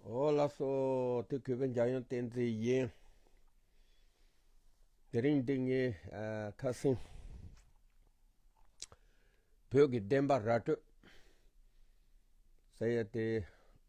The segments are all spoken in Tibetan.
ཨོ་ལགས་སོ་དེ་གུས་པའི་འཇམ་དབྱངས་བསྟན་འཛིན་ཡིན། དེ་རིང་འདི་ངས་ཁ་སིང་བོད་ཀྱི་བདེན་པ་ར་སྤྲོད་ཟེར་ཡས་དེ་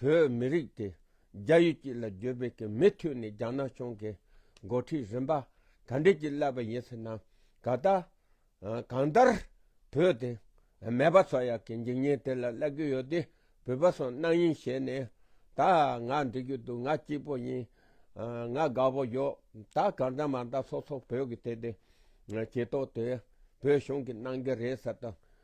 བོད་མི་རིགས་དེ་རྒྱ་ཡུལ་གྱི་ལ་རྒྱོ་བོད་ཀྱི་མི་ཐུ་ནི་རྒྱ་ནག་གཞུང་གི་འགོ་ཁྲིད་རིམ་པ་ག་འདྲས་ཀྱིས་བསླད་པ་ཡིན་ཟེར་ན་ད་ལྟ་གང་ལྟར་བོད་དེ་མེད་པ་ཚོ་ཡག་གི་འཇིག་ཉེན་དེ་ལ་བསླད་གི་ཡོད་དེ་བོད་པ་ཚོ་སྣང་ཡིན་བྱས་ནས་ད་ང་འདི་རྒྱུ་འདུག་ང་སྐྱིད་པོ་ཡིན་ང་དགའ་བོ་ཡོད་ད་གང་ལྟར་མ་མཐའ་སོ་སོ་བོད་ཀྱི་དེ་དེ་ཀྱི་ཐོག་དེ་བོད་གཞུང་གི་གནང་གི་རེད་ཟེར་དང།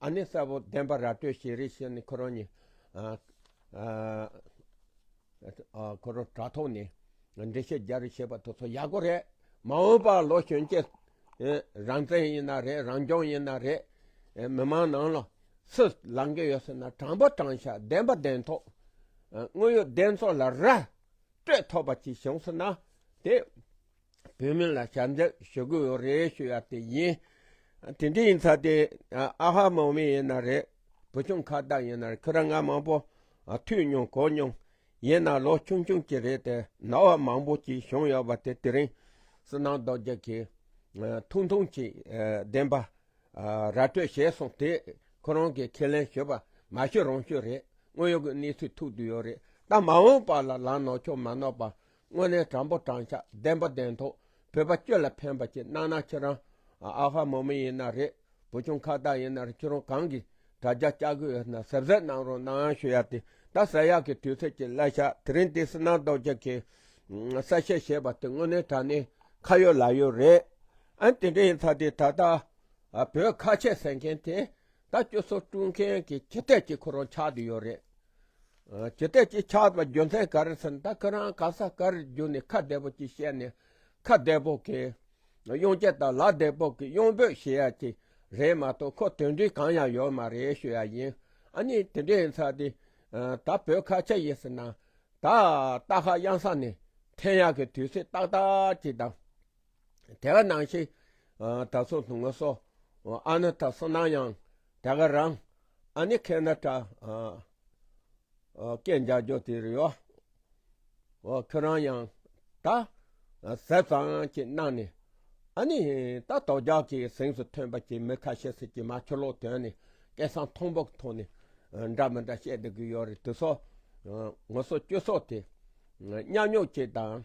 ཨ་ནེ་གསལ་པོ་བདེན་པ་ར་སྤྲོད་བྱེད་རིགས་ཤིག་ནི་ཁོ་རང་ཉིད་ཁོ་རང་དྲ་ཐོག་ནས་འགྲེལ་བཤད་རྒྱག་རེས་བྱེད་པ་དེ་ཚོ་ཡག་པོ་རེད་མ་འོངས་པ་ལོ་གཞོན་སྐྱེས་རང་བཙན་ཡིན་ན་རེད་རང་སྐྱོང་ཡིན་ན་རེད་མི་མང་ནང་ལ་སུ་ལང་གི་ཡོད་ཟེར་ན་དྲང་པོ་དྲང་བཞག་བདེན་པ་བདེན་ཐོག་དངོས་ཡོད་བདེན་ཚོགས་ལ་ར་སྤྲོད་ཐོབ་པ་ཅིག་བྱུང་ཟེར་ན་དེ། བོད་མི་ལ་ཞབས་འདེགས་ཞུ་དགོས་ཡོད་རེད་ཞུ་ཡ་དེ་ཡིན། དེ་འདྲ་ཡིན་ཚ་དེ་ཨ་ཧ་མང་མི་ཡིན་ན་རེད་བུ་ཆུང་ཁ་བདག་ཡིན་ན་རེད་ཁྱོད་རང་ང་མང་པོ་ཐུག་མྱོང་གོ་མྱོང། ཡིན་ན་ལོ་ཆུང་ཆུང་གྱི་རེད་དེ་ན་བ་མང་པོ་གྱིས་བྱུང་ཡོད་པ་དེ་དེ་རིང་སུ་ནང་རྡོ་རྗེ་གིས་ཐུང་ཐུང་གྱིས་བདེན་པ་ར་སྤྲོད་བྱས་སོང་དེ་ཁོ་རང་གིས་ཁས་ལེན་ཞུས་པ་མ་ཤོད་རང་ཤོད་རེད་དངོས་ཡོད་ཀྱི་གནས་ཚུལ་ཐུག་དུས་ཡོད་རེད་ད་མ་འོངས་པ་ལ་ལང་ནོག་ཆོག་མ་ནོག་པ་དངོས་གནས་དྲང་པོ་དྲང་ཤ་བདེན་པོ་བདེན་ཐོག་བོད་པ་སྐྱོད་ལ་ཕན་པ་ཅིག་གནང་ན་ཁྱེད་རང་ཨ་ཧ་མོ་མི་ཡིན་ན་རེད་བུ་ཆུང་ཁ་བཏགས་ཡིན་ན་རེད་ཁྱེད་རང་གང་གིས་དྲ་རྒྱ་བཅའ་གི་ཡོད་ན་ཟབ་ཟབ་གནང་རོགས་གནང་ཡང་ཞུ་ཡ་དེ་ད་ཟ་ཡག་གི་དུས་ཚོད་ཀྱི་གླ་ཤ་དེ་རིང་དེ་སི་ནང་རྡོ་རྗེ་གིས་གསལ་བཤད་བྱས་པ་དེ་དངོས་གནས་དྲ་གནས་ཁ་ཡོད་ལག་ཡོད་རེད་ཨང་དེ་འདྲ་ཡིན་ཚ་དེ་ད་ལྟ་བོད་ཁ་ཆད་ཟེར་མཁན་དེ་ད་སྤྱོད་ཚོགས་དཀྲུག་མཁན་གྱི་ཁྱི་སྟེགས་གཅིག་ཁོ་རང་ཆགས་དུ་ཡོད་རེད། ཁྱི་སྟེགས་གཅིག་ཆགས་པ་རྒྱུ་མཚན་ག་རེད་ཟེར་ན་ད་ཁོ་རང་ག་ས་ག་རེར་རྒྱུ་ནས་ཁ་བདེ་པོ་གཅིག་བཤད་ནས་ཁ་བདེ་པོ་གི་གཡོན་ཆད་དང་ལག་བདེ་པོ་གི་གཡོན་འབོད་བྱེད་ཡ་གཅིག་རེད་མ་གཏོགས་ཁོ་དོན་འབྲས་གང་ཡང་ཡོད་མ་རེད་ཤོད་ཡ་ཡིན་ཨ་ནི་དེ་འདྲ་ཡིན་ཚར་དུས་ད་བོད་ཁ་ཆད་ཡིན་ཟེར་ན་ད་སྟག་ཤ་གཡང་ས་ནས་འཐེན་ཡ་གི་དུས་ཚོད་ཏག་ཏག་གཅིག་དང། དེ་ག་ནང་ཞིག་ད་སོ་ཐུང་ང་སོ་ཨ་ན་ད་སོ་ནང་ཡང་དེ་ག་རང་ཨ་ནི་ཁེ་ན་ཏྲ་ཀེ་འཇག་རྒྱོ་དེ་རི་བ་ཁེ་རང་ཡང་ད་ཟད་ཙང་ཀེ་ནང་ནི་ཨ་ནི་ད་ཏོ་རྒྱག་ཀེ་སེང་སུ་ཐོན་པ་ཀེ་མི་ཁ་ཤེ་སི་ཀེ་མ་ཁྱོ་ལོ་དོན་ནི་ཀེ་སང་ཐོང་པོ་ཐོ་ནི་འདྲ་མི་འདྲ་ཤེ་དེ་གི་ཡོ་རི་དུ་སོ་ང་སོ་ཀྱོ་སོ་དེ་ཉག་ཉོག་ཀེ་དང།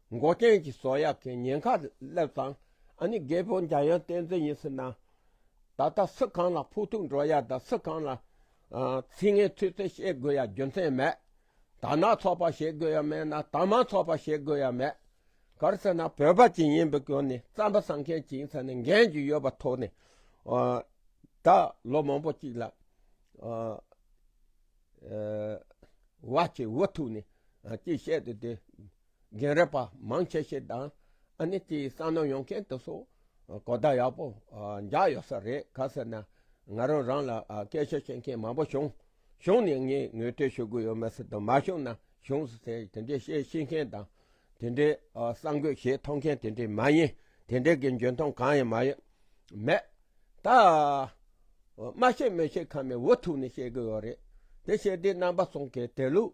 མགོ་རྐྱེན་གྱི་སོ་ཡག་གི་ཉེན་ཁ་སླེབས་ཙང་ཨ་ནི་རྒད་པོ་འཇམ་དབྱངས་བསྟན་འཛིན་ཡིན་ཟེར་ན། ད་ལྟ་སུ་གང་ལ་ཕོག་ཐུག་འགྲོ་ཡ་དང་སུ་གང་ལ་ཚིག་ངན་ཚིག་རྩེ་བཤད་དགོས་ཡ་རྒྱུ་མཚན་མེད། དར་ནག་ཚོགས་པ་བྱེད་དགོས་ཡ་མེད་ན་དར་དམར་ཚོགས་པ་བྱེད་དགོས་ཡ་མེད། གར་ཟེར་ན་བོད་པ་གཅིག་ཡིན་པའི་སྐྱོན་ནི་རྩམ་པ་ཟ་མཁན་གཅིག་ཟེར་ནས་འགན་གཅིག་ཡོད་པ་ཐོག་ནས་ད་ལོ་མང་པོ་གཅིག་ལ་བ་གཅིག་འུ་ཐུག་ནས་གཅིག་བཤད་དེ་དེ། རྒན་རབས་པ་མང་ཆེ་ཤས་དང་ཨ་ནེ་དེའི་གསང་ནོར་ཡོང་མཁན་དེ་ཚོ་གོ་བརྡ་ཡག་པོ་འཇགས་ཡོད་ས་རེད་ག་ཟེར་ན། ང་རང་རང་ལ་སྐད་ཆ་བཤད་མཁན་མང་པོ་བྱུང་བྱུང་ནས་ངས་ངོས་ཐོས་ཞུ་གི་ཡོད་མ་ཟེར་དང་མ་བྱུང་ན་བྱུང་ཟེར་དེ་འདྲའི་བཤད་ཤེས་མཁན་དང། དེ་འདྲའི་གསང་གོས་ཞེ་ཐོགས་མཁན་དེ་འདྲའི་མ་ཡིན་དེ་འདྲའི་གི་འཇོན་ཐང་གང་ཡང་མ་ཡོད་མེད། ད་སྨྲ་ཤེས་མི་ཤེས་ཁ་མའི་འུ་ཐུག་ནས་བཤད་གི་ཡོད་རེད་དེ་བཤད་དེའི་རྣམ་པ་སོང་གི་དེ་ལུགས།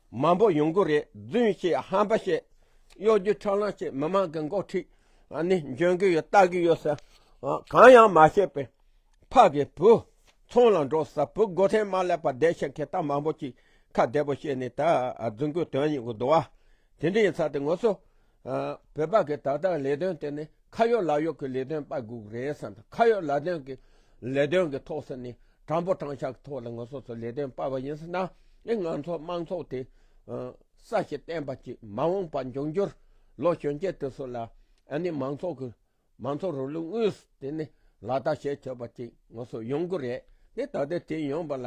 མང་པོ་ཡོང་གི་རེད་རྫུན་བཤད་ཧམ་པ་བཤད་གཡོ་སྒྱུ་འཕྲོ་བརླང་བྱེད་མི་མང་གི་འགོ་ཁྲིད་ནི་འཇོན་གི་ཡོད་ལྟ་གི་ཡོད་ཟེར་གང་ཡང་མ་བཤད་པའི་ཕ་གི་བུ་ཚང་ལ་འགྲོ་ས་བུ་སྒོ་ཐེངས་མ་ལས་པ་བསྡད་ཤེས་མཁན་ད་མང་པོ་ཅིག་ཁ་བདེ་པོ་བཤད་ནས་ད་རྫུན་གོས་དོན་སྙིང་གི་རྡོ་བ་དེ་འདྲ་ཡིན་ཚ་དེ་ངོ་སོ། བོད་པ་གི་ད་ལྟ་ལས་དོན་དེ་ནི་ཁ་གཡོག་ལག་གཡོག་གི་ལས་དོན་དཔའ་གུག་རེད་བསམ་དང་ཁ་གཡོག་ལག་དོན་གི་ལས་དོན་གི་ཐོག་སུ་ནི་དྲང་པོ་དྲང་ཤག་གི་ཐོག་ལ་ང་སོ་སོ་ལས་དོན་དཔའ་བ་ཡིན་ཟེར་ན་ཨི་ང་ཚོ་དམངས་ཚོགས་དེ་ས་ཞིག་བརྟན་པ་ཅིག་མ་འོངས་པ་འབྱུང་རྒྱུར་ལོ་གཞོན་སྐྱེས་དེ་སུ་ལ་ཨ་ནི་མང་ཚོགས་གི་མང་ཚོགས་རིང་ལུགས་དངོས་སུ་དེ་ནི་ལག་བསྟར་བྱེད་ཐུབ་པ་ཅིག་ང་ཚོར་ཡོང་གི་རེད་དེ་ད་ལྟའི་དུས་ཡོང་པ་ལ་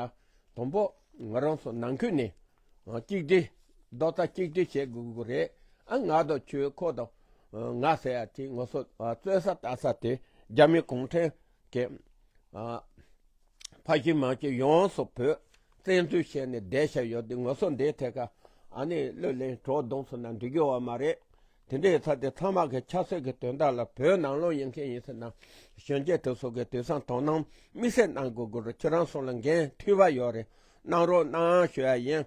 དང་པོ་ང་རང་ཚོ་ནང་ཁུལ་ནས་གཅིག་སྒྲིལ། རྡོག་རྩ་གཅིག་སྒྲིལ་བྱེད་དགོས་ཀྱི་རེད་ཨ། ང་དང་ཆོས་འཁོར་དང་ང་ཟེར་ཡ་དེ་ང་ཚོ་རྩོད་ས་ལྟ་ས་དེ་རྒྱ་མི་གུང་ཁྲན་གྱི་ཕ་གཞིས་མ་གཞིས་ཡོངས་སུ་བོད་བཙན་འཛུལ་བྱས་ནས་བསྡད་ཤག་ཡོད་དེ་ང་ཚོ་འདིའི་ཐད་ཀ་ཨ་ནི་གླུ་ལེན་བྲོ་བརྡུང་ཚོ་ན་འགྲིག་གི་བ་མ་རེད་དེ་འདྲའི་ཚ་དེ་ཚང་མ་གི་ཆབ་སྲིད་ཀྱི་དོན་དག་ལ་བོད་ནང་ལོག་ཡིན་མཁན་ཡིན་ཟེར་ན་གཞོན་སྐྱེས་དེ་ཚོ་གི་དུས་སང་དོ་སྣང་དམིགས་བསལ་གནང་དགོས་དགོས་རུ་ཁྱེད་རང་སོང་ལ་འགན་འཐུས་བ་ཡོད་རེད་གནང་རོགས་གནང་ཞུ་ཡ་ཡིན།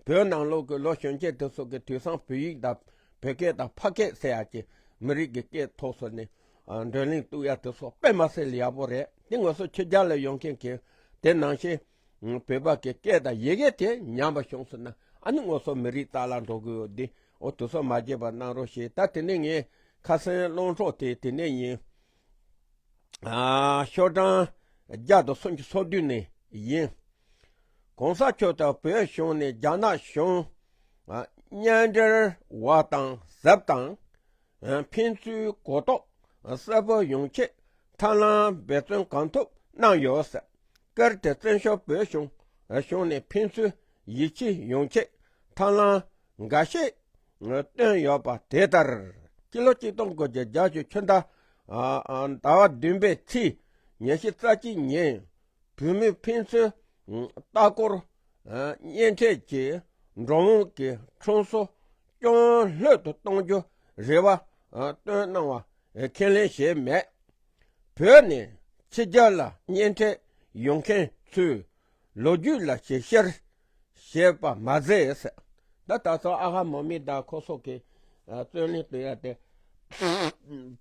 བོད་ནང་ལོག་གི་ལོ་གཞོན་སྐྱེས་དེ་ཚོ་གི་དུས་སང་བོད་ཡིག་དང་བོད་སྐད་དང་ཕ་སྐད་བསྲེ་ཡ་ཀྱི་མི་རིགས་ཀྱི་སྐད་ཐོག་སོ་ནི་འགྲོན་གླིང་གཏུག་ཡ་དེ་ཚོ་དཔེ་མ་སེ་ལ་ཡག་པོ་རེད་དེ་ངོས་སོ་ཁྱེད་རྒྱ་ལ་ཡོང་མཁན་གི་དེ་ནང་བཞིན། བོད་པ་གི་སྐད་དང་ཡི་གེ་དེ་ཉམས་པ་བྱུང་སོང་ན་ཨ་ནི་ངོ་སོ་མི་རིག་རྟགས་ལ་འགྲོ་གི་ཡོད་དེ་འོ་དུ་སོ་མ་རྒྱས་པར་གནང་རོགས་ཞེས་ད་དེ་ནས་ངའི་ཁ་སེང་སློང་གྲོགས་དེ་དེ་ནས་ཡིན། ཤོག་གྲངས་བརྒྱ་དང་སུམ་ཅུ་སོ་བདུན་ནས་ཡིན། གོང་ས་མཆོག་དང་བོད་གཞུང་ནས་རྒྱ་ནག་གཞུང་གཉེན་འབྲེལ་བ་དང་གཟབ་དང་ཕན་ཚུན་གོ་རྟོགས་གསལ་པོ་ཡོང་ཆེད་ཐབས་ལམ་འབད་བརྩོན་གང་ཐུབ་གནང་ཡོད་ཟེར། སྐར་དེ་བཙན་བྱོལ་བོད་གཞུང་གཞུང་ནས་ཕན་ཚུན་ཡིད་ཆེས་ཡོང་ཆེད་ཐབས་ལམ་འགའ་ཤས་བཏོན་ཡོད་པ་དེ་ལྟར་སྤྱི་ལོ་གཅིག་སྟོང་དགུ་བརྒྱ་རྒྱ་ཆོས་ཆོས་ཟླ་བ་བདུན་པའི་ཚེས་ཉེར་བཞི་རྩ་གཅིག་ཉིན་བོད་མི་ཕན་ཚུན་ལྟ་སྐོར་གཉེན་འཕྲད་ཀྱིས་འགྲོ་འོང་གི་གྲོང་སོ་སྐྱོང་སློད་དུ་གཏོང་རྒྱུ་རེ་བ་བཏོན་གནང་བ་ཁས་ལེན་བྱས་མེད། བོད་ནས་ཕྱི་རྒྱལ་ལ་གཉེན་འཕྲད་ཡོང་མཁན་ཚོའི་ལོ་རྒྱུས་ལ་ཞིབ་བཤེར་བྱས་པ་མ་ཟད། ད་ད་སོ་ཨ་ཧ་མོ་མི་ད་ཁོ་སོགས་ཀྱི་རྩོད་གླེང་དུ་ཡལ་ཏེ།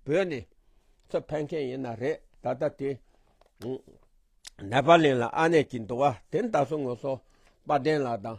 བོད་ནས་ཚུར་ཕེབས་མཁན་ཡིན་ན་རེད་ད་ལྟ་དེ་ནེ་པ་ལིན་ལ་ཨ་ནེ་གྱིས་འདུག་བ་དེ་ད་སོ་ངོ་སོ་དཔལ་ལྡན་ལགས་དང།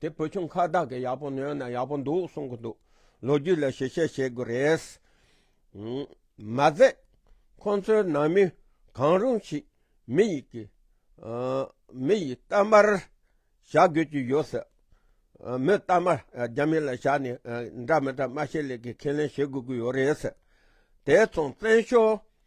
དེ་བུ་ཆུང་ཁ་བདག་གིས་ཡག་པོ་ཉོས་ན་ཡག་པོ་འདུག་གསུང་གི་འདུག་ལོ་རྒྱུས་ལ་ཞིབ་དཔྱད་བྱེད་དགོས་རེད། མ་ཟད་ཁོང་ཚོའི་ནང་མི་གང་རུང་ཞིག་མི་ཡི་གི་མི་ཡི་གཏམ་པར་བཞག་དགོས་ཀྱི་ཡོད་སྲིད། མོས་གཏམ་པར་རྒྱ་མི་ལ་བཞག་ནས་འདྲ་མི་འདྲ་སྨྲ་ཤེས་ལེགས་ཀྱི་ཁས་ལེན་བྱེད་དགོས་ཀྱི་ཡོད་རེད། དེ་མཚུངས་བཙན་བྱོལ་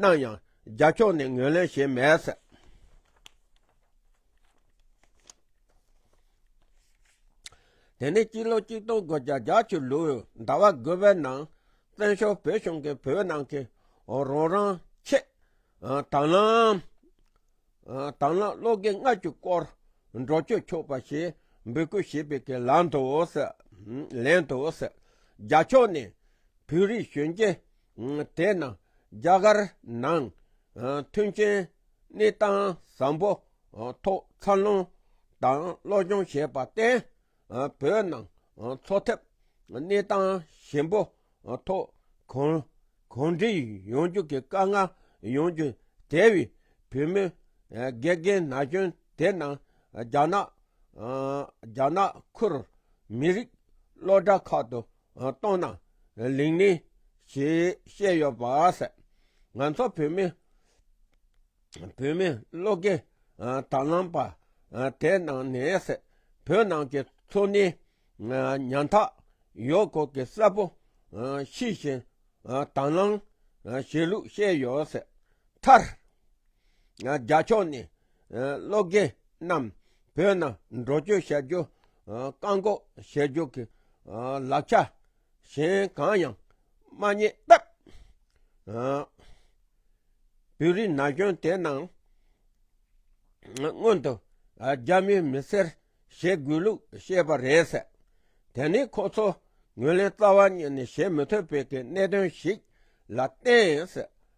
གནང་ཡང་རྒྱ་ཕྱོགས་ནས་ངོས་ལེན་བྱས་མེད། དེ་ནས་སྤྱི་ལོ་གཅིག་སྟོང་དགུ་བརྒྱ་བརྒྱ་ཆུ་ལུག་ཟླ་བ་དགུ་བའི་ནང་བཙན་བྱོལ་བོད་གཞུང་གིས་བོད་ནང་གི་རོང་རང་ཆེད་དང་བླངས་བློ་དགེ་ལྔ་བཅུ་སྐོར་འགྲོ་བསྐྱོད་ཆོག་པ་ཞེས་འབོད་སྐུལ་བྱས་པའི་གི་ལན་དུ། རྒྱ་ཕྱོགས་ནས་བོད་རིགས་གཞོན་སྐྱེས། དེས་ན་རྒྱ་གར་ནང་མཐུན་རྐྱེན་གནས་སྟངས་བཟང་པོ་ཐོག་འཚར་ལོངས་དང་བློ་སྦྱོང་བྱས་པར་བརྟེན་བོད་ནང་འཚོ་ཐབས་གནས་སྟངས་ཞན་པོ་ཐོག་གང་གང་འདྲིས་ཡོང་རྒྱུ་གི་དཀའ་ངལ་ཡོང་རྒྱུ་དེ་བས་བུད་མེད་དགེ་རྒན་ན་གཞོན་དེ་རྣམས་རྒྱ་ནག་ཁུལ་མི་རིགས་སློབ་གྲྭ་ཁག་ཏུ་གཏོང་ན་ལེགས་ནི། ཞེས་བཤད་ཡོད་པ་ཟད། ང་ཚོ་བོད་མི། བོད་མི་བློ་དགེ་དར་ལམ་པ། དེ་ནང་ནས་བོད་ནང་གི་འཚོ་གནས་ཉམ་ཐག་ཡོད་སྐོར་གྱི་གསལ་པོ་ཤེས་བཞིན་དང་བླང་བྱེད་ལུགས་བཤད་ཡོད་ཟད། མཐར། རྒྱ་ཕྱོགས་ནས་བློ་དགེ་རྣམས་བོད་ནང་འགྲོ་སྐྱོད་བྱ་རྒྱུ། བཀག་འགོག་བྱེད་རྒྱུ་གི་ལག་ཆ་གཞན་གང་ཡང་མ་རྙེད་སྟབས། བོད་རིགས་ན་གཞོན་དེ་རྣམས་སྔོན་དུ་རྒྱ་མིའི་མི་སེར་བྱེད་དགོས་ལུགས་བཤད་པ་རེད་ཟེར། དེ་ནི་ཁོ་ཚོ་ངོས་ལེན་རྩ་བ་ཉིད་ནས་བྱེད་མི་ཐུབ་པའི་གནད་དོན་ཞིག་ལ་བརྟེན་ཟེར།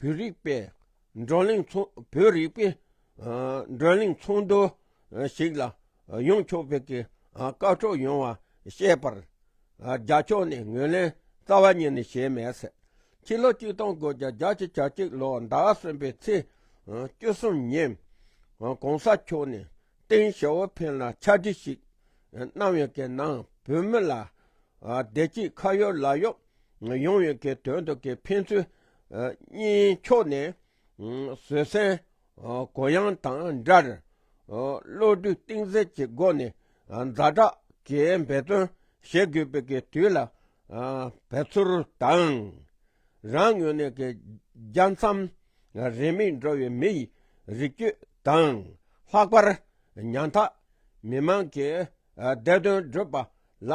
བོད་རིག་པའི་བགྲོ་གླེང་བོད་རིག་པའི་བགྲོ་གླེང་ཚོགས་འདུ་ཞིག་ལ་ཡོང་ཆོག་བོད་ཀྱི་སྐར་ཚོགས་ཡོང་བ་བཤད་པར། རྒྱ་ཕྱོགས་ནས་ངོས་ལེན་རྩ་བ་ཉིད་ནས་བྱས་མེད་ཟེར། ཕྱི་ལོ་བཅུ་སྟོང་དགུ་བརྒྱ་རྒྱ་ཆེ་གྱ་གཅིག་ལོ་ཟླ་བ་གསུམ་པའི་ཚེས་བཅུ་གསུམ་ཉིན། གོང་ས་མཆོག་ནས་ཏིང་ཞའོ་ཕིན་ལ་ཕྱག་བྲིས་ཤིག་གནང་ཡོད་ཀྱི་ནང་བོད་མི་ལ་བདེ་སྐྱིད་ཁ་ཡོད་ལག་ཡོད་ཡོང་ཡོད་ཀྱི་དོན་དུ་ཀྱི་ཕན་ཚུན་གཉིས་ཕྱོགས་ནས་བཟོད་བསྲན་གོ་ཡང་དང་འདྲར་བློ་གྲོས་གཏིང་གསལ་གྱི་སྒོ་ནས་མཛའ་གྲགས་ཀྱི་འབད་བརྩོན་བྱེད་དགོས་པའི་གི་དུས་ལ་བབས་ཚུལ་དང། རང་ངོས་ནས་གི་རྒྱ་མཚམས་རིང་མིན་འགྲོ་བའི་མི་ཡི་རིགས་རྒྱུད་དང་ལྷག་པར་ཉམ་ཐག་མི་དམངས་ཀྱི་བདེ་དོན་སྒྲུབ་པ་ལ།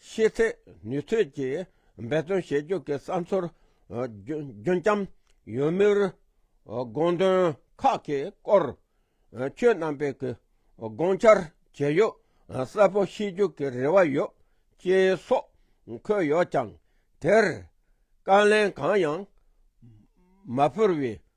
ཤེས་ཚད་ནུས་ཚོད་ཀྱིས་འབད་བརྩོན་བྱེད་རྒྱུ་གི་བསམ་ཚུལ་རྒྱུན་བསྐྱམ་ཡོད་མུས། དགོངས་དོན་ཁག་གི་སྐོར་ཆོས་རྣམ་པའི་གི་དགོངས་འཆར་བྱས་ཡོད་གསལ་པོ་ཤེས་རྒྱུ་གི་རེ་བ་ཡོད་ཅེས་སོགས་འཁོད་ཡོད་ཀྱང་དེར་བཀའ་ལན་གང་ཡང་མ་ཕུལ་བའི་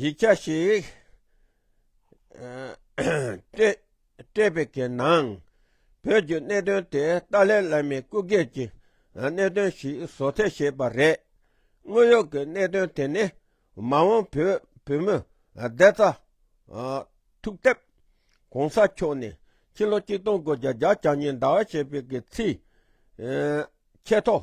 ཡིག་ཆ་ཞིག་སྤྲད་པའི་གི་ནང་བོད་ཀྱི་གནད་དོན་དེ་ཏཱ་ལའི་བླ་མའི་སྐུ་སྒེར་གྱི་གནད་དོན་ཞིག་བཟོ་ཐལ་བྱས་པ་རེད། དངོས་ཡོད་ཀྱི་གནད་དོན་དེ་ནི་མ་འོངས་བོད་བུད་མེད་བདེ་རྩ་ཐུག་ཐབས་གོང་ས་མཆོག་ནས་ཕྱི་ལོ་གཅིག་སྟོང་དགུ་བརྒྱ་བརྒྱ་ཆ་གཉིས་ཟླ་བ་བྱས་པའི་གི་ཚིག་ཁྱད་ཐོག་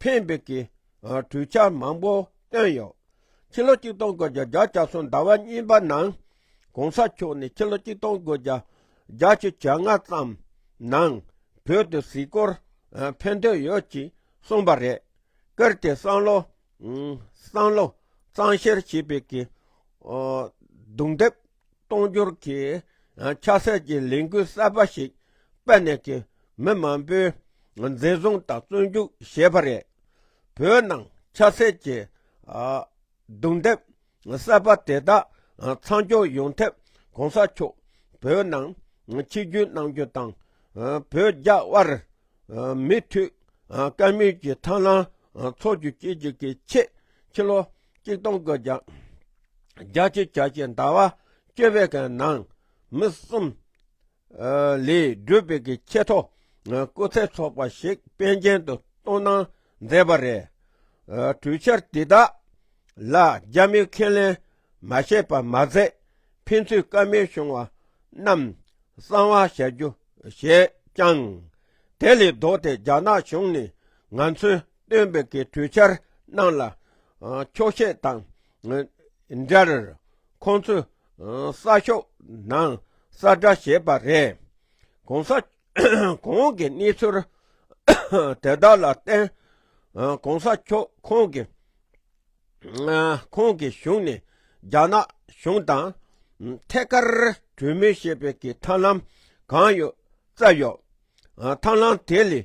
ཕན་འབྲས་ཀྱི་གྲོས་འཆར་མང་པོ་བཏོན་ཡོད། ཕྱི་ལོ་ཆིག་སྟོང་དགུ་བརྒྱ་བརྒྱ་ཆ་གསུམ་ཟླ་བ་གཉིས་པ་ནང ྋགོང་ས་མཆོག་ནས་ཕྱི་ལོ་ཆིག་སྟོང་དགུ་བརྒྱ་བརྒྱ་ཆའི་ཇ་ལྔ་ཙམ་ནང་བོད་དུ་གཟིགས་སྐོར་ཕེབས་འདོད་ཡོད་ཅེས་གསུངས་པ་རེད། ཀིར་ཏི་སང་ལོ། སང་ལོ་གཙང་བཤེར་བྱས་པའི་གྱི་རྡུང་རྡེབ། གཏོང་སྒྱུར་གྱི་ཆགས་སྲེད་ཀྱི་ལས་འགུལ་གསར་པ་ཞིག་སྤེལ་ནས་ཀྱི་མི་མང་པོའི་འཛིན་བཟུང་དང་བཙོན་འཇུག་བྱས་པ་རེད། བོད་ནང་ཆགས་སྲེད་ཀྱི་རྡུང་རྡེབ་གསར་པ་དེ་དག་མཚམས་འཇོག་ཡོང་ཐབས་གོང་ས་མཆོག་བོད་ནང་ཆིབས་བསྒྱུར་གནང་རྒྱུ་དང་བོད་རྒྱ་དབར་མི་མཐུད། སྐལ་དམན་གྱི་མཐའ་ན་འཚོ་རྒྱུ་སྐྱེལ་རྒྱུ་གི་ཆེད་ཕྱི་ལོ་གཅིག་སྟོང་གི་བརྒྱ་རྒྱ་ཆེ་བྱ་ཆེ་ཟླ་བ་བཅོ་བའི་ག་ནང་མི་གསུམ་ལས་སྒྲུབ་པའི་གི་ཆེད་ཐོ་སྐུ་ཚེ་ཚོགས་པ་ཞིག་དཔལ་རྒྱན་དུ་གཏོང་གནང་མཛད་པ་རེད། གྲོས་འཆར་དེ་དག་ལ་རྒྱ་མིའི་ཁས་ལེན་མ་བཤད་པར་མ་ཟད་ཕན་ཚུན་བཀའ་མོལ་བྱུང་བ་རྣམས་གསང་བ་བྱ་རྒྱུ་བྱས་ཀྱང། དེ་ལས་ལྡོག་སྟེ་རྒྱ་ནག་གཞུང་ནས་ང་ཚོའི་སྟོན་པའི་གི་གྲོས་འཆར་རྣམས་ལ་འཁྱོག་བཤད་དང་འདྲར་ཁོང་ཚོས་གསར་ཤོག་ནང་གསར་བསྒྲགས་བྱས་པ་རེད། གོང་ས་གོང་གི་གནས་ཚུལ་དེ་དག་ལ་བརྟེན་གོང་ས་མཆོག་ཁོང་གི་ཁོང་གི་གཞུང་ནས་རྒྱ་ནག་གཞུང་དང་ཐད་ཀར་གྲོས་མོལ་བྱེད་པའི་གི་ཐབས་ལམ་གང་ཡོད་བཙལ་ཡོད། ཐབས་ལམ་དེ་ལས་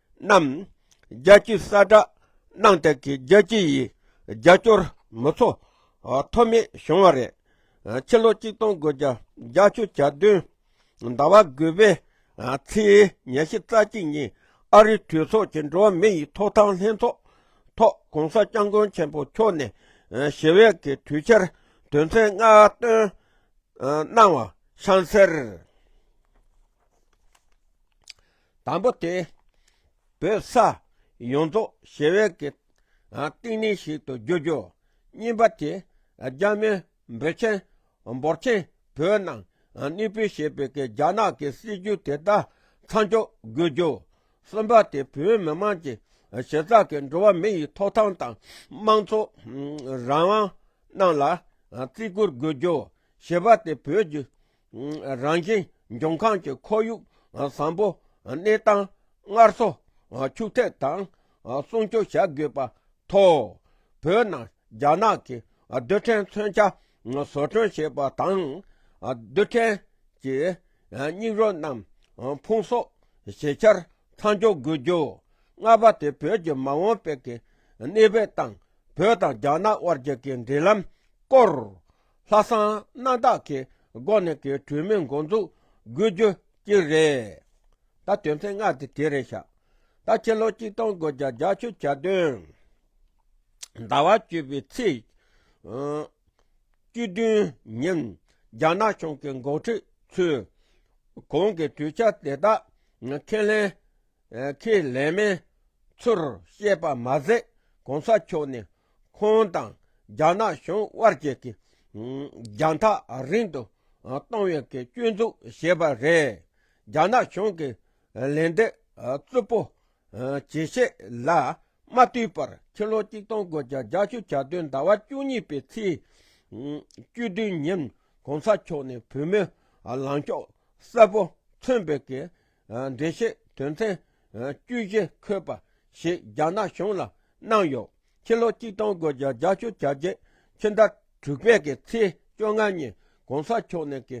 རྣམས། རྒྱལ་སྤྱིའི་གསལ་བསྒྲགས་གནང་སྟེ་གི་རྒྱལ་སྤྱི་ཡི་རྒྱལ་སྐྱོར་མི་ཚོགས་མཐོ་དམན་བྱུང་བ་རེད། ཕྱི་ལོ་གཅིག་སྟོང་དགུ་བརྒྱ་རྒྱ་ཆུ་གྱ་བདུན་ཟླ་བ་དགུ་པའི་ཚེས་ཉེར་བཞི་རྩ་གཅིག་ཉིན་ཨ་རིའི་གྲོས་ཚོགས་ཀྱི་འགྲོ་བ་མི་ཡི་ཐོག་ཐང་ལྷན་ཚོགས་ཐོག་གོང་ས་སྐྱབས་མགོན་ཆེན་པོ་མཆོག་ནས་ཞི་བའི་གི་དུས་འཆར་དོན་ཚན་ལྔ་བཏོན་གནང་བ་ཤང་སེར། དང་པོ་དེ། བོད་ས་ཡོངས་རྫོགས་ཞི་བའི་གཏིང་ནས་ཞིག་ཏུ་འགྱུར་རྒྱུ། གཉིས་པ་དེ། རྒྱ་མི་འབོད་ཆེན་འབོར་ཆེན་བོད་ནང་གནས་སྤོས་བྱེད་པའི་རྒྱ་ནག་གི་སྲིད་ཇུས་དེ་དག་མཚམས་འཇོག་དགོས་རྒྱུ། གསུམ་པ་དེ་བོད་མི་དམངས་ཀྱི་གཞི་རྩ་གི་འགྲོ་བ་མི་ཡི་ཐོབ་ཐང་དང་དམངས་གཙོ་རང་དབང་རྣམས་ལ་བརྩི་བཀུར་དགོས་རྒྱུ། བཞི་པ་དེ་བོད་ཀྱི་རང་བཞིན་འབྱུང་ཁམས་ཀྱི་ཁོར་ཡུག་བཟང་པོ་གནས་སྟངས་སྔར་གསོ་ཕྱུགས་ཐད་དང་སྲུང་སྐྱོང་བྱ་དགོས་པ་ཐོག་བོད་ནང་རྒྱ་ནག་གི་རྡུལ་ཕྲན་མཚོན་ཆ་བཟོ་སྐྲུན་བྱེད་པ་དང་རྡུལ་ཕྲན་གྱི་སྙིགས་རོ་རྣམས་ཕུང་གསོག་བྱེད་འཆར་མཚམས་འཇོག་དགོས་རྒྱུ། ལྔ་པ་དེ་བོད་ཀྱི་མ་འོངས་དཔལ་གྱི་གནས་བབ་དང་བོད་དང་རྒྱ་ནག་དབར་གྱི་འབྲེལ་ལམ་སྐོར་ལྷ་བསང་སྣ་དག་གི་སྒོ་ནས་ཀྱི་གྲོས་མོལ་འགོ་འཛུགས་དགོས་རྒྱུ་གཅིག་རེད། ད་དོན་ཚན་ལྔ་དེ་དེ་རེད་ཤག་ད་ཕྱི་ལོ་གཅིག་སྟོང་དགུ་བརྒྱ་རྒྱ་ཆུ་གྱ་བདུན། ཟླ་བ་བཅུ་བའི་ཚེས་བཅུ་བདུན་ཉིན་རྒྱ་ནག་གཞུང་གི་འགོ་ཁྲིད་ཚོས་གོང་གི་གྲོས་འཆར་དེ་དག་ཁས་ལེན་ཁས་ལེན་མིན་ཚུར་བཤད་པ་མ་ཟད་གོང་ས་མཆོག་ནས་ཁོང་དང་རྒྱ་ནག་གཞུང་དབར་གྱི་རྒྱང་ཐག་རིང་དུ་གཏོང་བའི་སྐྱོན་འཛུགས་བྱས་པ་རེད། རྒྱ་ནག་གཞུང་གི་ལན་འདེབས་རྩུབ་པོ་ཇི་བྱས་ལ་མ་ལྟོས་པར་ཕྱི་ལོ་གཅིག་སྟོང་དགུ་བརྒྱ་རྒྱ་ཆུ་གྱ་སྟོན་ཟླ་བ་བཅུ་གཉིས་པའི་ཚེས་བཅུ་བདུན་ཉིན་གོང་ས་མཆོག་ནས་བོད་མིའི་ལངས་ཕྱོགས་གསལ་པོ་མཚོན་པའི་འགྲེལ་བཤད་དོན་ཚན་བཅུ་བཞི་འཁོད་པ་ཞིག་རྒྱ་ནག་གཞུང་ལ་གནང་ཡོད། ཕྱི་ལོ་གཅིག་སྟོང་དགུ་བརྒྱ་རྒྱ་ཆུ་བྱ་རྒྱལ་ཕྱི་ཟླ་དྲུག་པའི་གི་ཚེས་བཅོ་ལྔ་ཉིན་གོང་ས་མཆོག་ནས་གི་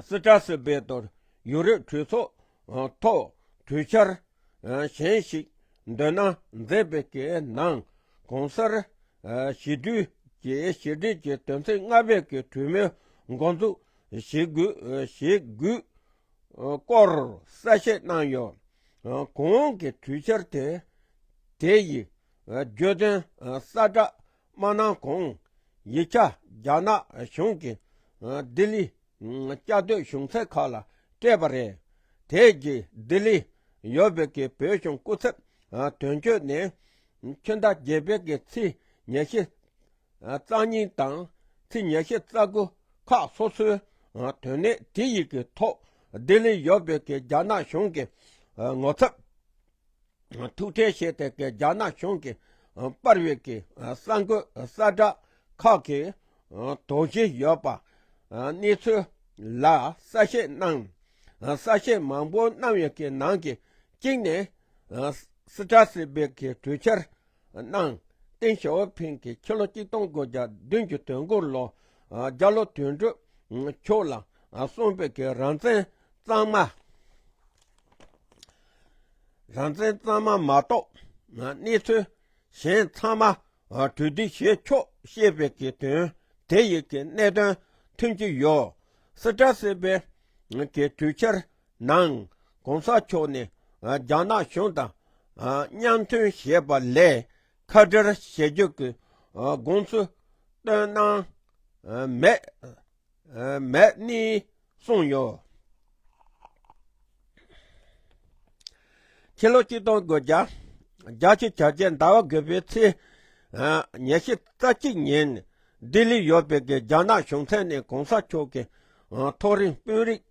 སི་ཀྲ་སི་བེ་ཏོར་ཡུ་རོབ་གྲོས་ཚོགས་ཐོག་གྲོས་འཆར་གཞན་ཞིག་འདོན་གནང་མཛད་པའི་གི་ནང་གོང་གསར་ཞི་དུལ་གྱི་ཞི་བདེ་ཀྱི་དོན་ཚན་ལྔ་པའི་གི་གྲོས་མོལ་འགོ་འཛུགས་ཞེ་དགུས་སྐོར་གསལ་བཤད་གནང་ཡོད། གོང་འོག་གི་གྲོས་འཆར་དེ་དེ་ཡིས་བརྗོད་དོན་གསལ་བསྒྲགས་མ་གནང་གོང་ཡིག་ཆ་རྒྱ་ནག་གཞུང་གིས་ལྡི་ལི་བཅའ་སྡོད་གཞུང་ཚད་ཁག་ལ་སྤྲད་པ་རེད། དེ་རྗེས་ལྡི་ལི་ཡོད་བོད་ཀྱི་བོད་གཞུང་སྐུ་ཚབ་དོན་གཅོད་ནས་ཁྱོན་ཟླ་བརྒྱད་པའི་ཚེས་ཉེར་བཞི། རྩ་རྙིང་དང་ཚིག་ཉེར་བཞི་རྩ་དགུ་ཁག་སོ་སོའི་དོན་གནད་དེ་ཡིག་གི་ཐོག་བདེ་ལེགས་ཡོད་པའི་གི་རྒྱ་ནག་གཞུང་གི་ངོ་ཚབ་ཐུགས་ཁྲལ་བྱས་ཏེ་གི་རྒྱ་ནག་གཞུང་གི་དཔར་བའི་གི་གསར་འགོད་གསར་བསྒྲགས་ཁག་གི་དོགས་གཞི་ཡོད་པ་གནས་ཚུལ་ལ་གསལ་བཤད་གནང། གསལ་བཤད་མང་པོ་གནང་བའི་གི་ནང་གི་གཅིག་ནི་སི་ཏྲ་སི་བའི་གི་གྲོས་འཆར་གནང། ཏིང་ཞའོ་ཕིང་གིས་ཕྱི་ལོ་གཅིག་སྟོང་དགུ་བརྒྱ་བདུན་ཅུ་དོན་དགུ་ལོ་རྒྱ་ལོ་དུས་མཇུག་ཕྱོགས་ལ་སོན་པའི་གི་རང་བཙན་གཙང་མ། རང་བཙན་གཙང་མ་མ་གཏོགས་གནས་ཚུལ་གཞན་ཚང་མ་གྲོས་བསྡུར་བྱས་ཆོག་ཞེས་པའི་གི་དོན་དེ་ཡི་གི་གནད་དོན་མཐུན་གྱི་ཡོད། སི་ཀྲ་སི་པའི་གི་གྲོས་འཆར་ནང། ྋགོང་ས་མཆོག་ནས་རྒྱ་ནག་གཞུང་དང་མཉམ་མཐུན་བྱས་པ་ལས་ཁ་བྲལ་བྱེད་རྒྱུ་གི་དགོངས་ཚུལ་བཏོན་གནང་མེད་ནི་གསུངས་ཡོད། ཕྱི་ལོ་གཅིག་སྟོང་དགུ་བརྒྱ་རྒྱ་ཆེའི་བྱ་རྒྱལ་ཟླ་བ་དགུ་པའི་ཚེས་ཉེར་བཞི་རྩ་གཅིག་ཉིན། ལྡི་ལི་ཡོད་པའི་རྒྱ་ནག་གཞུང་ཚན་ནས་གོང་ས་མཆོག་གི་ཐོག་རིང་དཔོན་རིགས་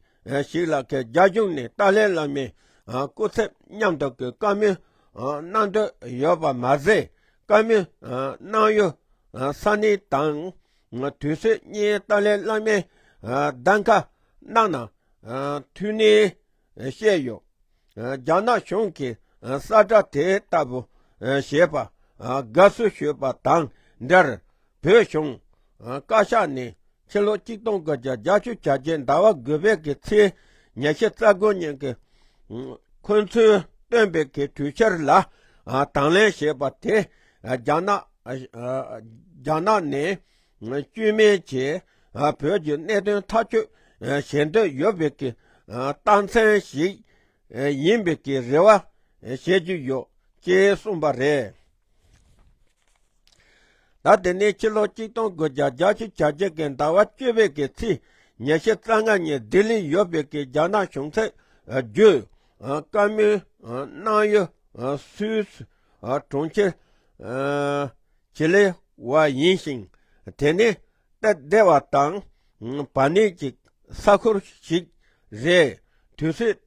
ཤིག་ལ་རྒྱ་གཞུང་ནས་ཏཱ་ལའི་བླ་མའི་སྐུ་ཚབ་མཉམ་དུ་གྱི་བཀའ་མོལ་གནང་འདོད་ཡོད་པ་མ་ཟད། བཀའ་མོལ་གནང་ཡུལ་ས་གནས་དང་དུས་ཚོད་གཉིས་ཏཱ་ལའི་བླ་མའི་གདམ་ག་གནང་ན་འཐུས་ནས། བཤད་ཡོད། རྒྱ་ནག་གཞུང་གིས་ས་བཀྲ་དེ་ལྟ་བུ་བྱས་པར་དགའ་བསུ་ཞུས་པ་དང་འབྲེལ་བོད་གཞུང་བཀའ་ཤག་ནས་ཕྱི་ལོ་གཅིག་སྟོང་དགུ་བརྒྱ་རྒྱ་ཆུ་བྱ་རྒྱལ་ཟླ་བ་དགུ་པའི་གི་ཚེས་ཉེར་བཞི་རྩ་དགུ་ཉིན་གྱི་འཁོན་ཚུལ་བཏོན་པའི་གི་གྲོས་འཆར་ལ་དང་ལེན་བྱས་པ་དེ་རྒྱ་ནག་ནས། བཅོས་མིན་གྱིས་བོད་ཀྱི་གནད་དོན་ཐག་གཅོད་བྱེད་འདོད་ཡོད་པའི་ཀྱི་རྟགས་མཚན་ཞིག་ཡིན་པའི་ཀྱི་རེ་བ་བྱེད་ཀྱི་ཡོད་ཅེས་གསུངས་པ་རེད། ཟླ་དེ་ནས་ཕྱི་ལོ་གཅིག་སྟོང་དགུ་བརྒྱ་བརྒྱ་བཞི་བྱ་བརྒྱད་ཀྱི་ཟླ་བ་བཅུ་པའི་ཀྱི་ཚེས་ཉེར་བཞི་རྩ་ལྔ་ཉིན་ལྡི་ལིར་ཡོད་པའི་ཀྱི་རྒྱ་ནག་གཞུང་ཚད་བརྒྱུད་བཀའ་མོལ་གནང་ཡུལ་སུད་སི་གྲོང་ཁྱེར། བྱེད་ལས་བ་ཡིན་ཞིང། དེ་ནི་སྟབས་བདེ་བ་དང་བར་གནས་ཀྱི་ས་ཁུལ་ཞིག་རེད། དུས་ཚོད་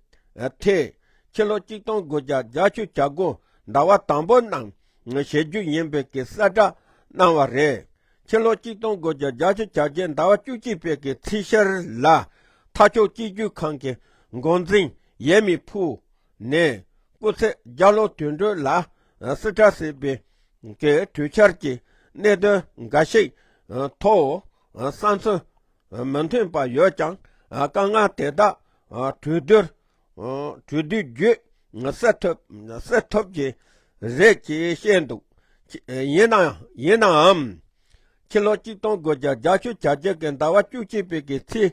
ཐད། ཕྱི་ལོ་གཅིག་སྟོང་དགུ་བརྒྱ་བརྒྱ་བཅུ་གྱ་དགུ་ཟླ་བ་དང་པོ་ནང་བྱེད་རྒྱུ་ཡིན་པའི་གི་གསལ་བསྒྲགས་གནང་བ་རེད། ཕྱི་ལོ་གཅིག་སྟོང་དགུ་བརྒྱ་བརྒྱ་བཅུ་གྱ་བརྒྱད་ཟླ་བ་བཅུ་གཅིག་པའི་གི་ཚེས་བཞིར་ལ། མཐའ་ཕྱོགས་སྤྱི་རྒྱུས་ཁང་གི་འགོ་འཛིན་ཡས་མི་ཕུ་ནས་སྐུ་ཚེ་བརྒྱ་ལོ་དུས་འགྲོས་ལ་སི་ཁྲ་སི་པི་ཀའི་གྲོས་འཆར་གྱི་གནད་དོན་འགའ་ཞིག་ཐོག་བསམ་ཚུལ་མི་མཐུན་པ་ཡོད་ཀྱང་དཀའ་ངལ་དེ་དག་གྲོས་བསྡུར་བརྒྱུད་སེལ་ཐུབ་ཀྱི་རེད་ཅེས་བཤད་འདུག་ཡིན་ནའང། ཕྱི་ལོ་གཅིག་སྟོང་དགུ་བརྒྱ་རྒྱ་ཆུ་བྱ་རྒྱུད་ཀྱི་ཟླ་བ་བཅུ་གཅིག་པའི་ཚེས་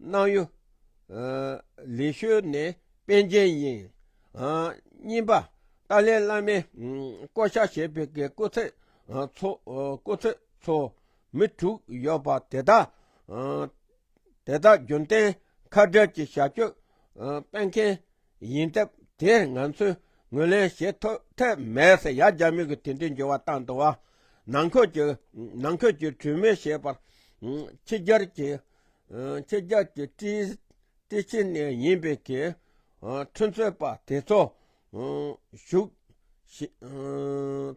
སྣང་གཡོ། ལས་བཤོལ་ནས་དཔལ་རྒྱན་དབྱིངས། བསྙེན་པ། ཏཱ་ལའི་བླ་མའི་བསྐོ་བཞག་བྱས་པའི་གི་སྐུ་ཚད་ཚོགས། མི་དྲུག་ཡོད་པ་དེ་དག་རྒྱུན་གཏན་ཁ་བྲལ་གྱི་བྱ་སྤྱོད་སྤེལ་མཁན་ཡིན་སྟབས་དེར་ང་ཚོས་ངོས་ལེན་བྱེད་ཐབས་མེད་ཟེར་ཡ་རྒྱ་མིའི་གི་དེ་འདྲའི་འགྱུར་བ་བཏང་འདུག་བ། ནང་ཁུལ་གྱི་གྲོས་མོལ་བྱེད་པར་ཕྱི་རྒྱལ་གྱི། ཁྱེད་ཅག་གི་སྤྲིས་ཕྱི་ནས་ཡིན་པའི་གི་ཁྲོན་རྩོད་པ་དེ་ཚོ་ཞུགས་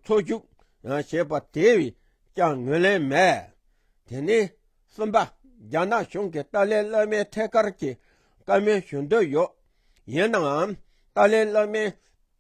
འཚོ་ཞུགས་བྱེད་པ་དེས་ཀྱང་ངོས་ལེན་མེད། དེ་ནས་གསུམ་པ་རྒྱ་ནག་གཞུང་གིས་ཏཱ་ལའི་བླ་མའི་ཐད་ཀར་གྱི་བཀའ་མོལ་ཞུ་འདོད་ཡོད། ཡིན་ནའང་ཏཱ་ལའི་བླ་མའི།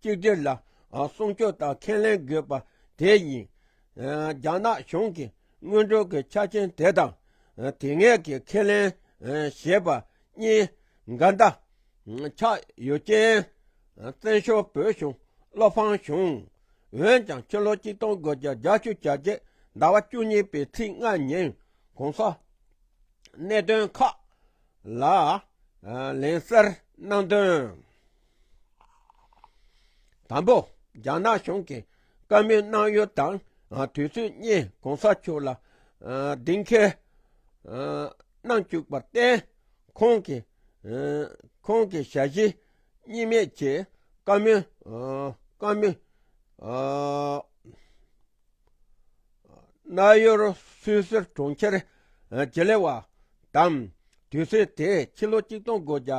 གཅིག་སྒྲིལ་ལ་སྲུང་སྐྱོབ་དང་ཁས་ལེན་དགོས་པ་དེ་ཡིན། རྒྱ་ནག་གཞུང་གིས་སྔོན་འགྲོ་གི་ཆ་རྐྱེན་དེ་དང་དེ་སྔའི་གི་ཁས་ལེན་ཞེས་པ་གཉིས་འགལ་ཟླ་ཆགས་ཡོད་རྐྱེན། བཙན་བྱོལ་བོད་གཞུང་བློ་ཕམ་བྱུང། འོན་ཀྱང་ཕྱི་ལོ་གཅིག་སྟོང་དགུ་བརྒྱ་རྒྱ་ཆུ་བྱ་རྒྱལ་ཟླ་བ་བཅུ་གཉིས་པའི་ཚེས་ལྔ་ཉིན ྋགོང་ས་གནད་དོན་ཁག་ལ་ལན་བསྩལ་གནང་དོན། དང་པོ། རྒྱ་ནག་གཞུང་གིས་བཀའ་མོལ་གནང་ཡུལ་དང་དུས་ཚོད་གཉིས་གོང་ས་མཆོག་ལ་གདེང་འཁེལ་གནང་བཅུག་པར་བརྟེན། ཁོང་གིས་ཁོང་གི་ཞལ་བཞེས་གཉིས་མེད་ཀྱི་བཀའ་མོལ་གནང་ཡུལ་སུད་སིར་གྲོང་ཁྱེར་ཇི་ལེ་ཝ་དང་དུས་ཚོད་དེའི་ཕྱི་ལོ་ཆིག་སྟོང་དགུ་བརྒྱ་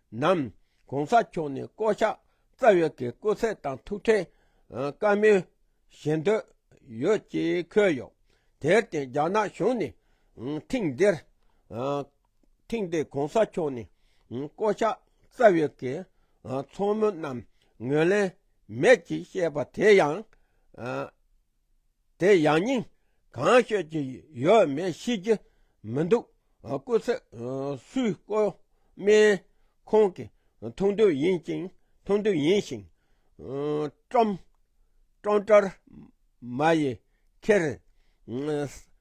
ནམ། གོང་ས་མཆོག་ནས་བསྐོ་གཞག་རྩ་བའི་གི་སྐུ་ཚད་དང་ཐུགས་ཁྲལ། བཀའ་མོལ། བྱེད་འདོད། ཡོད་ཅེས་འཁོད་ཡོད། དེར་བརྟེན་རྒྱ་ནག་གཞུང་ནས། ཐེངས་འདིར། ཐེངས་འདིར་གོང་ས་མཆོག་ནས། བསྐོ་གཞག་རྩ་བའི་གི། ཚོགས་མི་རྣམས་ངོས་ལེན། མེད་ཅེས་བཤད་པ་དེ་ཡང། དེ་ཡང་སྙིང་གང་ཤོད་ཀྱི་ཡོད་མེད་ཤེས་ཀྱི་མི་འདུག་སྐུ་ཚེ་སུའི་བཀོད་སྨན་ཁོང་གི་མཐོང་དོན་ཡིན་ཅིང་མཐོང་དོན་ཡིན་ཞིང། ཀྲོམ། ཀྲོང་ཀྲར་མ་ཡི་ཁེར།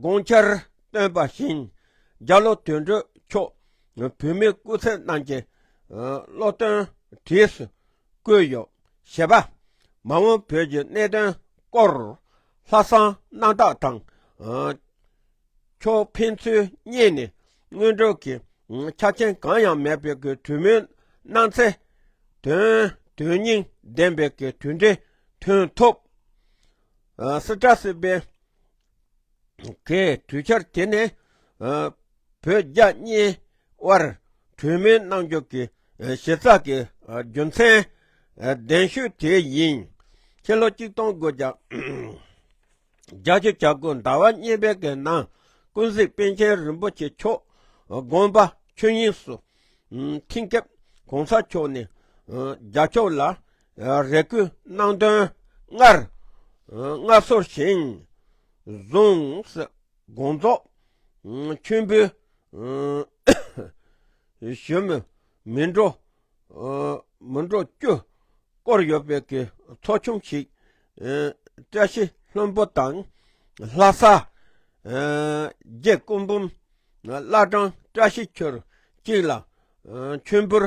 དགོངས་འཆར་བཏོན་པ་བཞིན་རྒྱ་ལོ་དོན་གྲུབ་མཆོག་བོད་མིའི་སྐུ་ཚེ་རྣམས་ཀྱི་སློབ་སྟོན་བྲིས་སུ་བཀོད་ཡོད། ཞེས་པ། མ་འོངས་བོད་ཀྱི་གནད་དོན་སྐོར་ལྷ་བསང་གནང་སྟངས་དང། ཕྱོགས་ཕན་ཚུན་གཉིས་ནས་དངོས་སྒྲུབ་ཀྱི་ཆ་རྐྱེན་གང་ཡང་མེད་པའི་གྲོས་མོལ་གནང་ཚེ། དོན་སྙིང་ལྡན་པའི་གྲུབ་འབྲས་ཐོན་ཐུབ། སི་ཏྲ་སི་པེ་གས་གྲོས་འཆར་དེ་ནི་བོད་རྒྱ་གཉིས་དབར་གྲོས་མོལ་གནང་རྒྱུ་གི་གཞི་རྩ་གི་རྒྱུ་མཚན་གདན་ཞུས་དེ་ཡིན། ཕྱི་ལོ་གཅིག་སྟོང་དགུ་བརྒྱ་བརྒྱ་ཅུ་གྱ་དགུ་ཟླ་བ་གཉིས་པའི་གི་ནང་ཀུན་གཟིགས་པཎ་ཆེན་རིན་པོ་ཆེ་མཆོག་དགོངས་པ་ཆོས་དབྱིངས་སུ་ཐིངས་སྐབས་གོང་ས་མཆོག་ནས་རྒྱ་ཕྱོགས་ལ་རེ་སྐུལ་གནང་དོན་སྔར་སྔ་སོར་བཞིན་གཟུངས་དགོངས་རྫོགས་མཆོད་འབུལ་ཞུ་མི་མི་འགྲོ་མི་འགྲོ་རྒྱུ་སྐོར་ཡོད་པའི་གི་ཚོགས་ཆུང་ཞིག་བཀྲ་ཤིས་ལྷུན་པོ་དང་ལྷ་ས་རྒྱལ་སྐུ་འབུམ་བླ་བྲང་བཀྲ་ཤིས་ཆོས་གཅིག་ལ་མཆོད་འབུལ་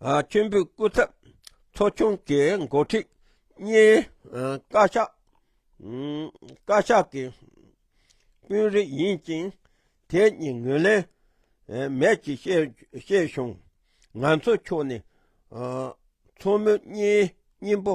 མཆོད་འབུལ་སྐུ་ཚབ་ཚོགས་ཆུང་གི་འགོ་ཁྲིད་གཉིས་བཀའ་ཤག་བཀའ་ཤག་གི་དཔོན་རིགས་ཡིན་ཅིང་དེ་གཉིས་ངོས་ལེན་མེད་ཅེས་བཤད་བྱུང། ང་ཚོའི་ཕྱོགས་ནས་མཚོ་མོ་གཉིས་སྙིང་པོ་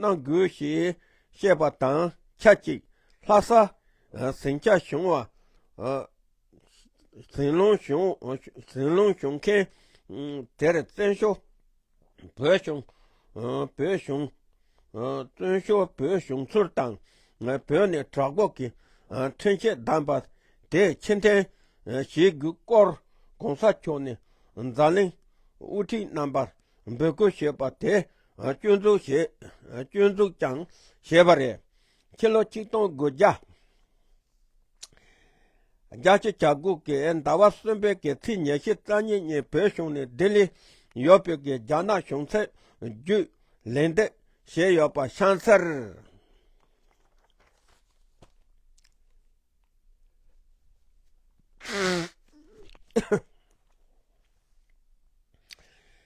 གནང་དགོས་ཞེས་བཤད་པ་དང་ཆ་གཅིག་ལྷ་ས་ཟིང་ཆ་གཞུང་བ། ཟིང་ལུང་གཞུང་མཁན་དེར་བཙན་བྱོལ་བོད་གཞུང་བཙོན་བྱོལ་བོད་གཞུང་ཚུར་དང་བོད་ནས་གྲགས་འགོག་གི་ཁྲིམས་ཆད་བསྡམས་པ་དེ་ཕྱིར་འཐེན་བྱེད་དགོས་སྐོར་གོང་ས་མཆོག་ནས་འཛམ་གླིང་དབུ་ཁྲིད་རྣམ་པར་འབོད་སྐུལ་བྱས་པ་དེ་སྐྱོན་འཛུགས་ཀྱང་བྱས་པ་རེད། ཕྱི་ལོ་ཆིག་སྟོང་དགུ་བརྒྱ་རྒྱ་ཆེ་གྱ་དགུ་གི་ཟླ་བ་གསུམ་པའི་གི་ཚིགས་ཉེར་བཞི་རྩ་གཉིས་ཉིན་བོད་གཞུང་ནས་ལྡི་ལི་ཡོད་པའི་གི་རྒྱ་ནག་གཞུང་ཚད་བརྒྱུད་ལན་འདེབས་བྱས་ཡོད་པ་ཤང་སར་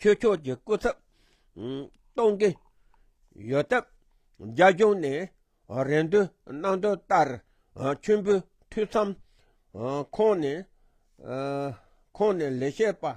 ཁྱོད་ཕྱོགས་ཀྱི་སྐུ་ཚབ་གཏོང་གི་ཡོད་སྟབས་རྒྱ་གཞུང་ནས་རེ་འདུན་གནང་དོན་ལྟར་མཆོད་འབུལ་འཐུས་མཚམས་ཁོངས་ནས་ཁོངས་ནས་ལས་བྱེད་པ།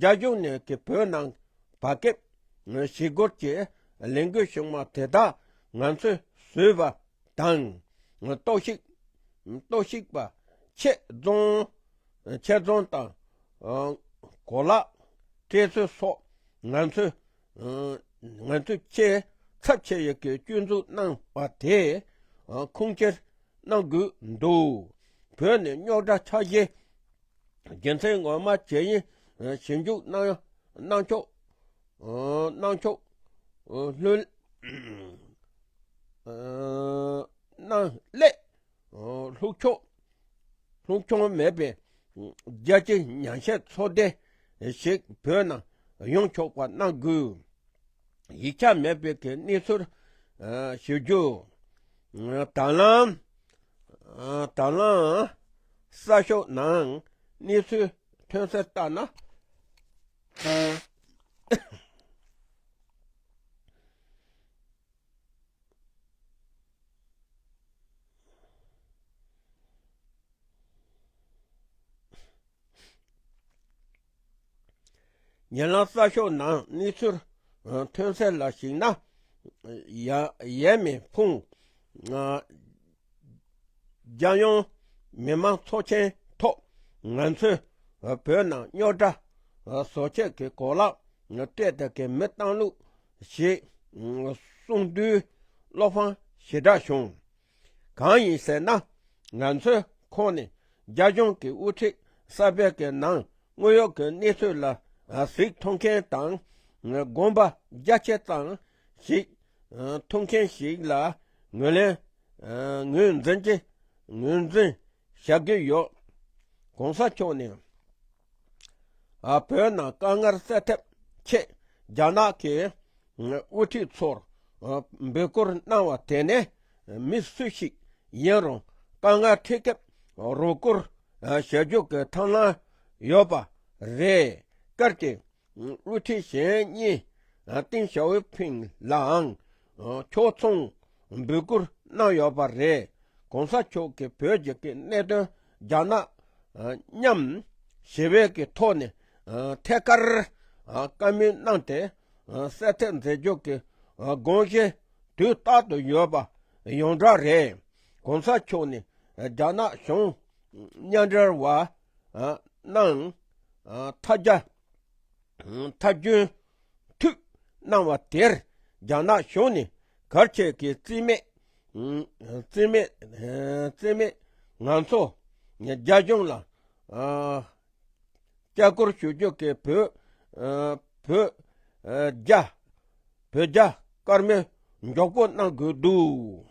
རྒྱ་གཞུང་ནས་ཀྱི་བོད་ནང་བ་ཀེབ་ཞི་རྒོལ་གྱི་ལས་འགུལ་བྱུང་བ་དེ་དག་ང་ཚོས་བཟོས་པ་དང་གཏོར་བཤིག་གཏོར་བཤིག་པ་ཆེད་རྫོང་ཆེད་རྫོང་དང་གོ་ལ་སྤྲད་ཚུལ་སོགས་ང་ཚོས་ང་ཚོས་ཁྱེད་ཚབ་བྱེད་ཡོད་ཀྱི་སྐྱོན་འཛུགས་གནང་བ་དེ་ཁུངས་སྐྱེལ་གནང་དགོས་འདུག་བོད་ནས་རྙོག་དྲ་ཆགས་རྗེས་རྒྱལ་མཚན་ངོ་མ་ཇེ་ཡིན་ཞིབ་འཇུག་གནང་གནང་ཕྱོགས་གནང་ཕྱོགས་ལྷོད་གནང་སླད། ལྷུག་འཁྱོངས་ལྷུག་འཁྱོངས་མེད་པའི་རྒྱལ་སྤྱིའི་ཉན་བཤད་ཚོགས་སྡེ་ཞིག་བོད་ནང་ཡོང་ཆོག་པ་གནང་དགོས། ཡིག་ཆ་མེད་པའི་གི་གནས་ཚུལ་ཞུ་རྒྱུ། དྲ་ལམ་དྲ་ལམ་གསར་ཤོག་ནང་གནས་ཚུལ་ཐོན་གསལ་ལྟར་ན། ཉེ་ལམ་གསར་ཤོག་ནང་གནས་ཚུལ་ཐོན་གསལ་ལ་གཞིགས་ན། ཡས་མེ་ཕུང། རྒྱལ་ཡོངས་མི་དམངས་ཚོགས་ཆེན་ཐོག་ང་ཚོས་བོད་ནང་རྙོག་དྲ་བཟོ་ཆེད་ཀྱི་གོ་ལག་སྤྲད་དེ་གི་མི་བཏང་ལུགས་ཞེས་གསུངས། དུས་བློ་ཕངས་ཞེ་དྲག་བྱུང། གང་ཡིན་ཟེར་ན་ང་ཚོའི་ཁོངས་ནས་རྒྱ་གཞུང་གི་དབུ་ཁྲིད་གསར་པའི་གི་ནང་དངོས་ཡོད་ཀྱི་གནས་ཚུལ་ལ་གཟིགས་མཐོང་མཁན་དང་དགོངས་པ་རྒྱ་ཆེ་ཙམ་ཞིག་མཐོང་མཁན་ཞིག་ལ་ངོས་ལེན་ངོས་འཛིན་གྱི་ངོས་འཛིན་བྱ་གི་ཡོད། གོང་ས་མཆོག་ནས། བོད་ནང་དཀའ་ངལ་སེལ་ཐབས་ཆེད་རྒྱ་ནག་གི་དབུ་ཁྲིད་ཚོར་འབོད་སྐུལ་གནང་བ་དེ་ནི་མི་སུ་ཞིག་ཡིན་རུང་དཀའ་ངལ་འཕྲད་སྐབས་རོགས་སྐུར་བྱ་རྒྱུ་གི་ཐང་ལམ་ཡོད་པ་རེད་སྐད་ཀྱིས། བསླུ་བྲིད་གཞན་རྙེད་ཏིང་ཞའོ་ཕིང་ལའང་ཕྱོགས་མཚུངས་འབོད་སྐུལ་གནང་ཡོད་པ་རེད། གོང་ས་མཆོག་གིས་བོད་རྒྱུད་ཀྱི་གནད་དོན་རྒྱ་ནག་མཉམ་ཞི་བས་ཀྱི་ཐོག་ནས་ཐད་ཀར་བཀའ་མོལ་གནང་སྟེ་གསལ་ཐེག་མཛད་རྒྱུ་གི་དགོངས་གཞི་དུས་རྟག་ཏུ་ཡོད་པ་ཡོངས་གྲགས་རེད། གོང་ས་མཆོག་ནི་རྒྱ་ནག་གཞུང་མཉམ་འབྲེལ་བ་སྣང། མཐའ་རྒྱ། མཐའ་རྒྱུན། མཐུད། སྣང་བ་དེར་རྒྱ་ནག་གཞུང་ནས་གར་ཁྱད་ཀྱི་རྩིས་མེད། རྩིས་མེད། རྩིས་མེད། ང་ཚོ། རྒྱ་གཞུང་ལ། སྐྱག་སྐོར་ཞུ་རྒྱུ་གི་བོད། བོད། རྒྱ། བོད་རྒྱ། དཀར་མོའི། མགྱོགས་པོ་གནང་དགོས་འདུག།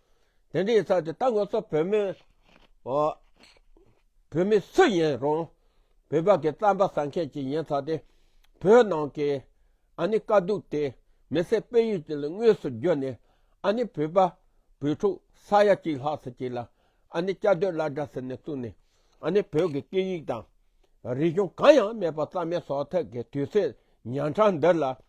དེ་འདྲའི་ཚ་དེ་ད་ང་ཚོ་བོད་མི་བོད་མི་སུ་ཡིན་རུང་བོད་པ་གི་རྩམ་པ་ཟ་མཁན་གྱི་ཡིན་ཚ་དེ་བོད་ནང་གི་ཨ་ནི་དཀའ་སྡུག་དེ་མི་སེར་སྤེལ་ཡུལ་གྱི་ལ་དངོས་སུ་རྒྱུ་ནས་ཨ་ནི་བོད་པ་བོད་ཕྲུག་ས་ཡ་གཅིག་ལྷག་ས་གཅིག་ལ་ཨ་ནི་བཅའ་སྡོད་བླ་གྲྭ་ཟེར་ནས་བཙུགས་ནས་ཨ་ནི་བོད་གི་སྐད་ཡིག་དང་རིག་གཞུང་གང་ཡང་མེད་པ་རྩམ་མེ་ཟོག་ཐེག་གི་དུས་ཚོད་ཉང་ཁྲང་འདི་ལ།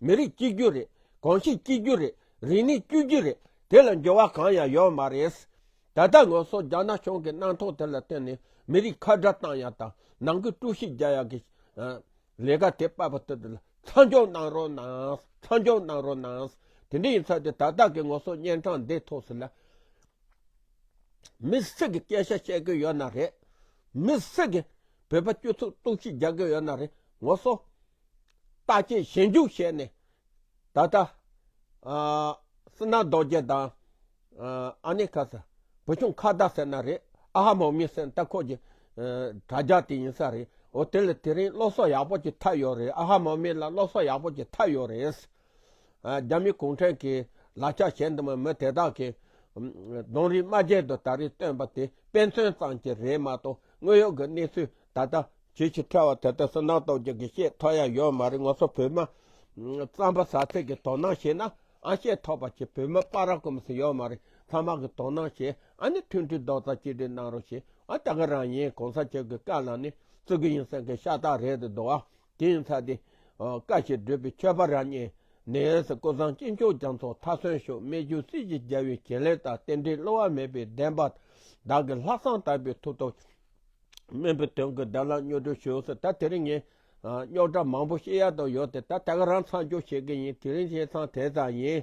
མི་རིགས་གཅིག་གྱུར་རེད། གོང་གཤིས་གཅིག་གྱུར་རེད། རིག་གནས་བཅུ་གཅིག་རེད། དེ་ལ་འགྱུར་བ་གང་ཡང་ཡོད་མ་རེད། ད་ལྟ་ངོས་སོགས་རྒྱ་ནག་གཞུང་གི་གནང་ཐོག་དེ་ལ་བརྟེན་ནས་མི་རིགས་ཁ་བརྡ་བཏང་ཡག་དང་ནང་གི་དཀྲུག་ཤིང་རྒྱག་ཡག་གི། ལས་ཀ་དེ་པར་པར་དུ་དེ་ལ་མཚམས་འཇོག་གནང་རོགས་གནང། མཚམས་འཇོག་གནང་རོགས་གནང། དེ་འདྲ་ཡིན་ཚ་དེ་ད་ལྟ་གི་ངོས་སོགས་གཉན་འཕྲང་འདི་ཐོག་སུ་ལ། མི་སུ་གི་སྐད་ཆ་བཤད་གི་ཡོད་ན་རེད། མི་སུ་གི་བོད་པ་སྤྱོད་ཚུགས་གཏུག་ཤིག་རྒྱག་གི་ཡོད་ན་རེད་ངོས་སོགས། ལྟ་ཅི་ཞེས་འཇུག་བྱས་ནས། ད་ལྟ། སི་ན་རྡོ་རྗེ་དང། ཨ་ནེ་ཁ་ས། བུ་ཆུང་ཁ་བརྡ་ཟེར་ན་རེད། ཨ་ཧ་མོ་མི་སེམས་ལྟ་ཁོག་གི། དྲ་རྒྱ་དེ་ཡིན་ས་རེད། འོ་དེ་ལ་དེ་རིང་སློབ་གསོ་ཡག་པོ་གྱི་ཐབས་ཡོད་རེད་ཨ་ཧ་མོ་མི་ལ་སློབ་གསོ་ཡག་པོ་གྱི་ཐབས་ཡོད་རེད། རྒྱ་མི་གུང་ཁྲན་གྱི་ལག་ཆ་ཞེ་འདི་མ་མི་དེ་དག་གི། གདོང་རིས་སྨྲ་བརྗེད་དུ་ད་རེས་བཏོན་པ་དེ་དཔེ་མཚོན་ཙམ་གྱི་རེད་མ་གཏོགས་དངོས་ཡོད་གི་གནས་ཚུལ་ད་ལྟ་ཇི་ཞིག་འཕྲལ་བ་དེ་ལྟར་སུན་སྣང་གཏོང་རྒྱུ་གི་ཤེས་ཐོགས་ཡང་ཡོད་མ་རེད་ངོ་སོ་བོད་མི་རྩམ་པ་ཟ་ཚད་ཀྱི་དོ་སྣང་བྱེད་ན་ཨང་ཤེས་ཐོགས་པ་ཆེ་བོད་མི་པ་ར་ཀོ་མི་སུ་ཡོད་མ་རེད་ཚང་མ་གི་དོ་སྣང་བྱེད་ཨ་ནི་མཐུན་སྒྲིལ་རྡོག་རྩ་གཅིག་སྒྲིལ་གནང་རོགས་ཞེས་ཨ་ད་ག་རང་ཡིན་གོང་ས་མཆོག་གི་བཀའ་ལ་ནི་བཙུག་གི་ཡིན་སེམས་ཀྱི་ཤ་སྟག་རེད་དུ་འདུག་ཨ་དེ་ཡིན་ཚ་དེ། བཀའ་ཞིག་བསྒྲུབས་པའི་ཆོས་པ་ར་གཉིས་ནས་སུ་ཀོ་བཟང་སྐྱིད་མཆོག་རྒྱ་མཚོ་མཐའ་སོན་ཤོག་སྨད་རྒྱུད་སྲིད་ཀྱི་རྒྱལ་བའི་བྱིན་ལས་དང་རྟེན་འབྲེལ་བསླུ་བ་མེད་པའི་བདེན་པ་བདག་གི་ལྷག་བསམ་དག་པའི་ཐུགས་སྟོབས། སྨན་པའི་དོན་གྱི་བདག་ལ་སྨྱོ་སྒྲོལ་བྱོས་སོ་ད་དེ་རིང་ངས་སྨྱོག་དྲ་མང་པོ་ཤེས་ཡག་དང་ཡོད་དེ་ད་ད་ག་རང་ཚང་སྐྱོ་བྱེད་ཀྱི་ཡིན་དེ་རིང་ཁྱེད་ཚང་དེ་ཙམ་ཡིན།